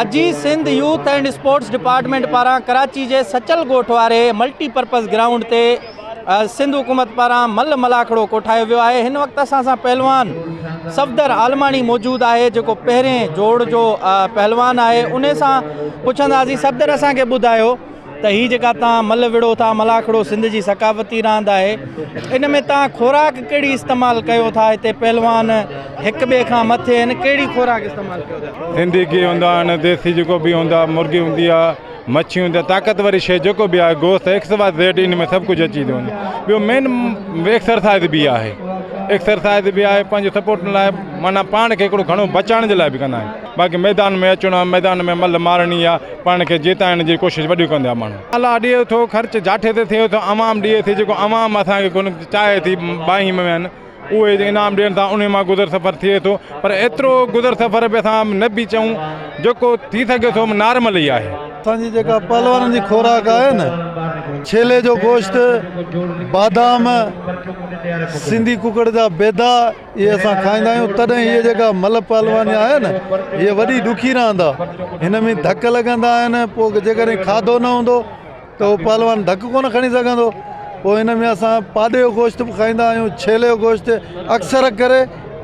اڄ ئي Sindh youth and sports department پاران ڪراچي جي سچل ڳوٺ واري ملٽي پرپز گرائونڊ تي سنڌ حڪومت پاران مل ملاکڙو ڪوٺايو ويو آهي هن وقت اسان سان پهلوان صفدر عالماڻي موجود آهي جيڪو پهرين جوڙ جو پهلوان آهي ان سان پڇنداسين صفدر اسان کي ٻڌايو ته هي جيڪا توهان ملهه وڙهو ٿا، ملاکڙو سنڌ جي ثقافتي راند آهي، ان ۾ توهان خوراڪ ڪهڙي استعمال ڪيو ٿا؟ هتي پهلوان هڪ ٻئي کان مٿي آهن، ڪهڙي خوراڪ استعمال ڪيو ٿا؟ سنڌي گيهه هوندا آهن، ديسي جيڪو به هوندا، مرغي هوندي آهي، مڇي هوندي آهي، طاقت واري شيء جيڪو به آهي، گوشت ايڪس واء زيڊ ان ۾ سڀ ڪجهه اچي ٿو وڃي. ٻيو مين ايڪسرسائز به آهي، ايڪسرسائز به آهي پنهنجي سپورٽ لاء معنيٰ پاڻ کي هڪڙو گهڻو بچائڻ جي لاء به ڪندا آهيون، باقي ميدان ۾ اچڻو آهي، ميدان ۾ ملهه مارڻي آهي. پاڻ کي جيتائڻ جي ڪوشش وڏيون ڪندا ماڻهو. الله ڏئي ٿو خرچ جاٺي تي ٿئي ٿو عوام ڏئي ٿي جيڪو عوام اسان کي ڪونه چاهي ٿي باهين ۾ ويهن اهي انعام ڏين ٿا انهي مان گذر سفر ٿئي ٿو پر ايترو گذر سفر به اسان نه به چئون جيڪو ٿي سگهي ٿو نارمل ئي آهي. اسان جي جيڪا پهلوانن جي خوراڪ آهي نه ڇيلي جو گوشت، بادام، سنڌي ڪڪڙ جا بيدا، اهي اسان کائيندا آهيون تڏهن هيء جيڪا ملهه پهلواني آهي نه هيء وڏي ڏکي راند آهي هن ۾ ڌڪ لڳندا آهن پوء جيڪڏهن کاڌو نه هوندو ته هو پهلوان ڌڪ ڪو نه کڻي سگهندو پوء هن ۾ اسان پاڏي جو گوشت به کائيندا آهيون ڇيلي جو گوشت اڪثر ڪري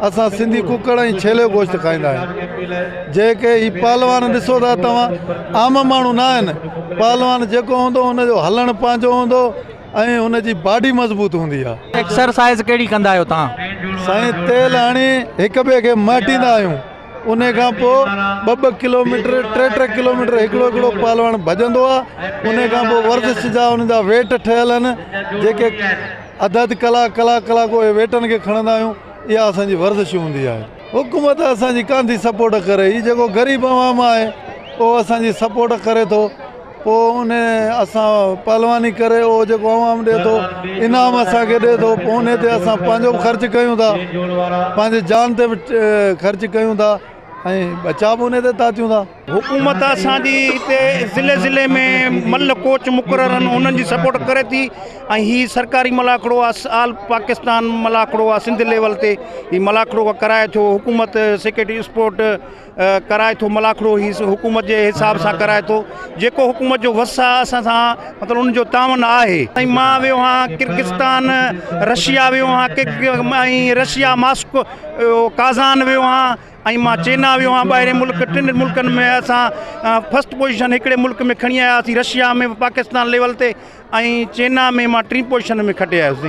اسان سنڌي ڪڪڙ ۽ ڇيلي جو گوشت کائيندا آهيون جيڪي هي پهلوان ڏسو ٿا توهان عام ماڻهو نه آهن پهلوان جيڪو هوندو ان جو هلڻ پنهنجو هوندو ۽ ان جي باڊي مضبوط هوندي آ. ايڪسرسائيز ڪهڙي ڪندا آهيو توهان؟ سائين تيل هڻي هڪ ٻئي کي مهٽيندا آهيون انهي کان پو ٻه ٻه ڪلوميٽر ٽي ٽي ڪلوميٽر هڪڙو هڪڙو پهلوان ڀڄندو آ انهي کان پو ورزش جا ان جا ويٽ ٺهيل ان جيڪي اڌ اڌ ڪلاڪ ڪلاڪ ڪلاڪ اهي ويٽن کي کڻندا آهيون اها اسان جي ورزش هوندي آهي حڪومت اسان جي ڪانڌي سپورٽ ڪري هي جيڪو غريب عوام آهي اهو اسان جي سپورٽ ڪري ٿو. پوء ان اسان پهلواني ڪري اهو جيڪو عوام ڏي ٿو انعام اسان کي ڏي ٿو پوء ان تي اسان پنهنجو به خرچ ڪيون ٿا پنهنجي جان تي به خرچ ڪيون ٿا ۽ ٻچا به ان تي تاتيون ٿا حڪومت اسان جي هتي ضلعي ضلعي ۾ مل ڪوچ مقرر آهن انهن جي سپورٽ ڪري ٿي ۽ هي سرڪاري ملاکڙو آهي آل پاڪستان ملاکڙو آهي سنڌ ليول تي هي ملاکڙو ڪرائي ٿو حڪومت سيڪريٽري اسپورٽ ڪرائي ٿو ملاکڙو هي حڪومت جي حساب سان ڪرائي ٿو جيڪو حڪومت جو وس آهي اسان سان مطلب ان جو تعاون آهي ۽ مان ويو هان ڪرڪستان رشيا ويو هان ۽ رشيا ماسڪو ڪازان ويو هان ۽ مان چينا ويو هان ٻاهرين ملڪ ٽن ملڪن ۾ اسان فسٽ پوزيشن هڪڙي ملڪ ۾ کڻي آياسي رشيا ۾ پاڪستان ليول تي ۽ چينا ۾ مان ٽي پوزيشن ۾ کٽي آياسي